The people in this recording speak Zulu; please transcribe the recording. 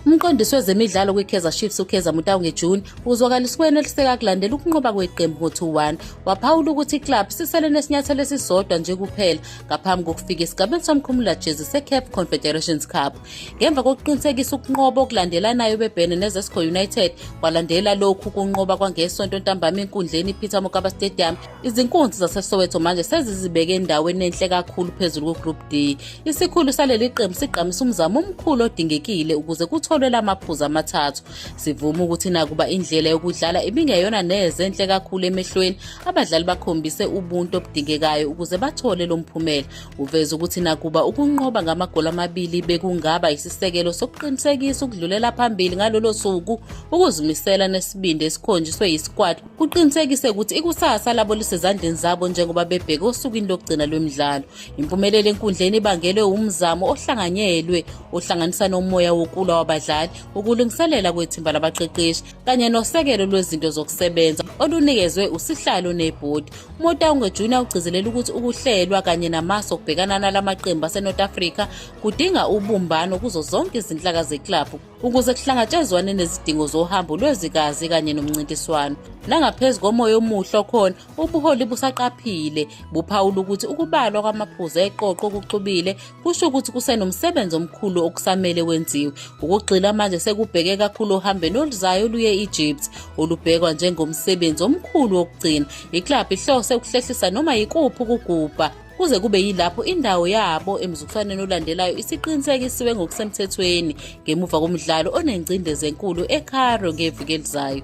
Umqondisi wezemidlalo kwiKaizer Chiefs uKaizer Motau ngeJune uzwakalisa ukweneliseka kulandela ukunqoba kweqembu ngo-2-1. Waphawula ukuthi iklabhu sisele nesinyathelo esisodwa nje kuphela ngaphambi kokufika esigabeni somkhumula jezi seCaf Confederations Cup. Ngemva kokuqinisekisa ukunqoba okulandelanayo bebhene neZesco United kwalandela lokhu kunqoba kwangesonto ntambama enkundleni iPeter Mokaba Stadium Izinkunzi zaseSoweto manje sezizibeke endaweni enhle kakhulu phezulu kuGroup D. Isikhulu saleli qembu sigqamisa umzamo omkhulu odingekile ukuze kutholwe la maphuzu amathathu. Sivuma ukuthi nakuba indlela yokudlala ibingeyona neze enhle kakhulu emehlweni, abadlali bakhombise ubuntu obudingekayo ukuze bathole lo mphumela. Uveze ukuthi nakuba ukunqoba ngamagoli amabili bekungaba isisekelo sokuqinisekisa ukudlulela phambili ngalolo suku, ukuzimisela nesibindi esikhonjiswe yisikwati kuqinisekise ukuthi ikusasa labo lisezandleni zabo njengoba bebheke osukwini lokugcina lwemidlalo impumelelo enkundleni ibangelwe umzamo ohlanganyelwe ohlanganisa nomoya wokulwa wabadlali ukulungiselela kwethimba labaqeqeshi kanye nosekelo lwezinto zokusebenza olunikezwe usihlalo nebhodi umotaunge junior ugcizelela ukuthi ukuhlelwa kanye namaso okubhekana nalamaqembu asenorth africa kudinga ubumbano kuzo zonke izinhlaka zeklabhu ukuze kuhlangatshezwane nezidingo zohambo lwezikazi kanye nomncintiswano nangaphezu komoya omuhle okhona ubuholi busaqaphile buphawula ukuthi ukubalwa kwamaphuzu eqoqo okuxubile kusho ukuthi kusenomsebenzi omkhulu okusamele wenziwe ukugxila manje sekubheke kakhulu ohambeni oluzayo luye egypt olubhekwa njengomsebenzi omkhulu wokugcina iklabhu ihlose ukuhlehlisa noma yikuphi ukugubha kuze kube yilapho indawo yabo emzuliswaneni olandelayo isiqinisekisiwe ngokusemthethweni ngemuva komdlalo onengcindezi enkulu eCairo ngeviki elizayo